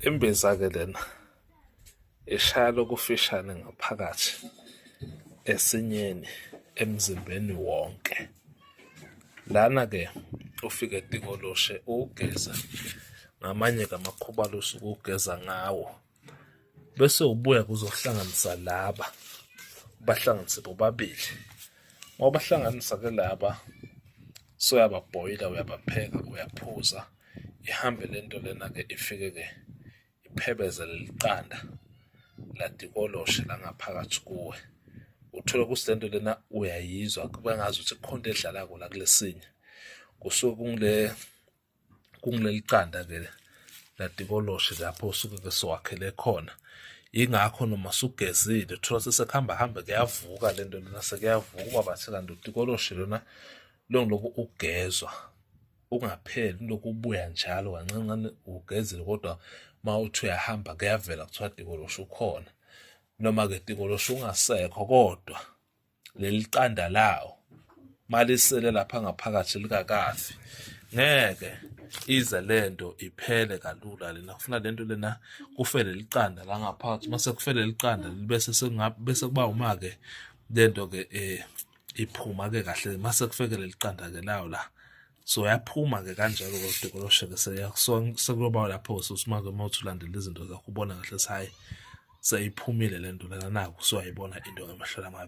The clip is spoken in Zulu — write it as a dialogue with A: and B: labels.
A: Imbiza-ke lena ishaya lokufishane ngaphakathi esinyeni emzimbeni wonke. Lana-ke ufike eDingoloshe uwugeze ngamanye-ke amakhuba alusuke uwugeza ngawo. bese ubuya kuzohlanganisa laba bahlanganise bobabili ngoba bahlanganisa ke laba soyababhoyila uyabapheka uyaphuza ihambe le nto lena ke ifike ke iphebeze leli qanda ladikoloshe langaphakathi kuwe uthole ukuthi le nto lena uyayizwa kube ngazi ukuthi kukhona edlala kula kulesinye kusuke kungile kungileli qanda ke latikoloshe lapho usuke ke siwakhele khona ingakho noma sugezile uthola sesekuhamba hambe kuyavuka le nto lena sekuyavuka uba bathe kanti utikoloshe lona longiloku ugezwa ungapheli lokhu ubuya njalo kancancane ugezile kodwa uma uthi uyahamba kuyavela kuthiwa tikoloshe ukhona noma-ke tikoloshe ungasekho kodwa leli qanda lawo malisele lapha ngaphakathi likakafi ngeke ize lento iphele kalula lena kufuna lento lena kufele liqanda la ngaphakathi mase kufele liqanda libese sengabe bese kuba uma ke lento ke eh iphuma ke kahle mase kufeke leliqanda ke lawo la so yaphuma ke kanjalo ke udekoloshe ke sekuloba lapho susuma ke uma uthi ulandela izinto zakho ubona kahle sayi seyiphumile lento lena naku so ayibona into ngamahlola amabi